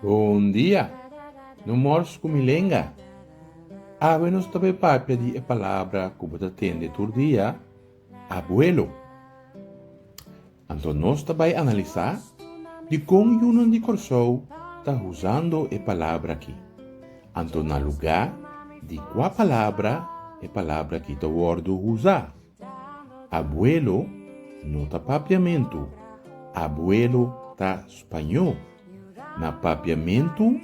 Bon dia, no mors ku mi lenga. Awe nos ta bai papia di e palabra ku bo ta tende tur dia, abuelo. Anto nos ta bai analisá dikon yunan di Kòrsou ta usando e palabra akí. Anto na lugá di kua palabra e palabra akí ta wòrdu usá? Abuelo no ta papiamentu, abuelo ta spañó. Na papiamentu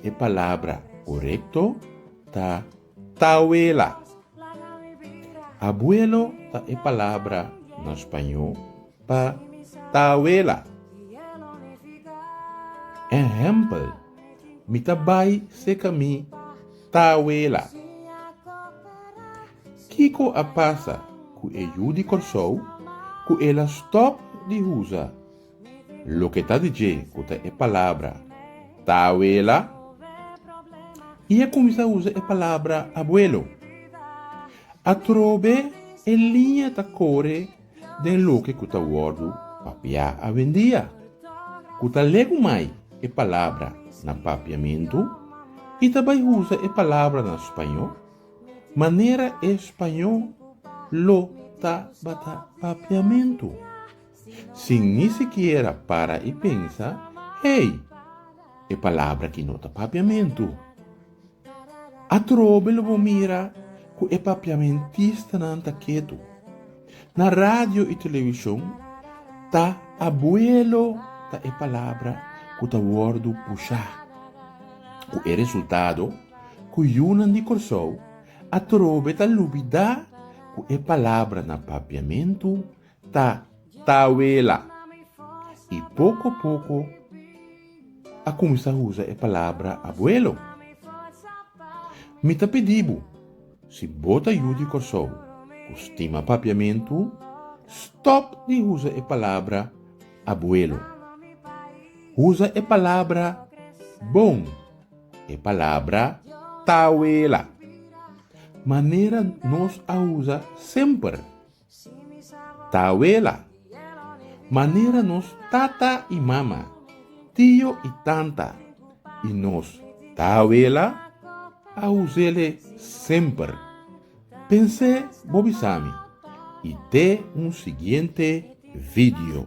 e palabra korekto ta Tawela. Abuelo ta e palabra na spañó pa tawela. Ehèmpel, Mi ta bai seka mi tawela. Kiko a pasa ku e yu di Kòrsou ku el a stòp di usa? Loke ta di dje ku ta e palabra tawela i a kuminsá usa e palabra abuelo. Atrobe e liña ta kore den loke ku ta wòrdu papiá awendia, ku ta legu mai e palabra na papiamentu i ta bai usa e palabra na spañó manera e spañó lo tabata papiamentu. sin ni sikiera para i pensa, Hey! E palabra ki no ta papiamentu. Atrobe lo bo mira ku e papiamentistanan ta ketu. Na radio i televishon ta abuelo ta e palabra ku ta wòrdu pushá, ku e resultado ku yunan di Kòrsou atrobe ta lubidá ku e palabranan papiamentu ta tawela i poko poko a kuminsá usa e palabra abuelo. Mi ta pidi bo, si bo ta yu di Kòrsou ku stima Papiamentu, stòp di usa e palabra abuelo. Usa e palabra bon, e palabra tawela, manera nos a usa semper. Ta awela. Manera nos tata i mama, tio i tanta i nos ta awela a usele semper. Pens'é bo bisami i te un siguiente video.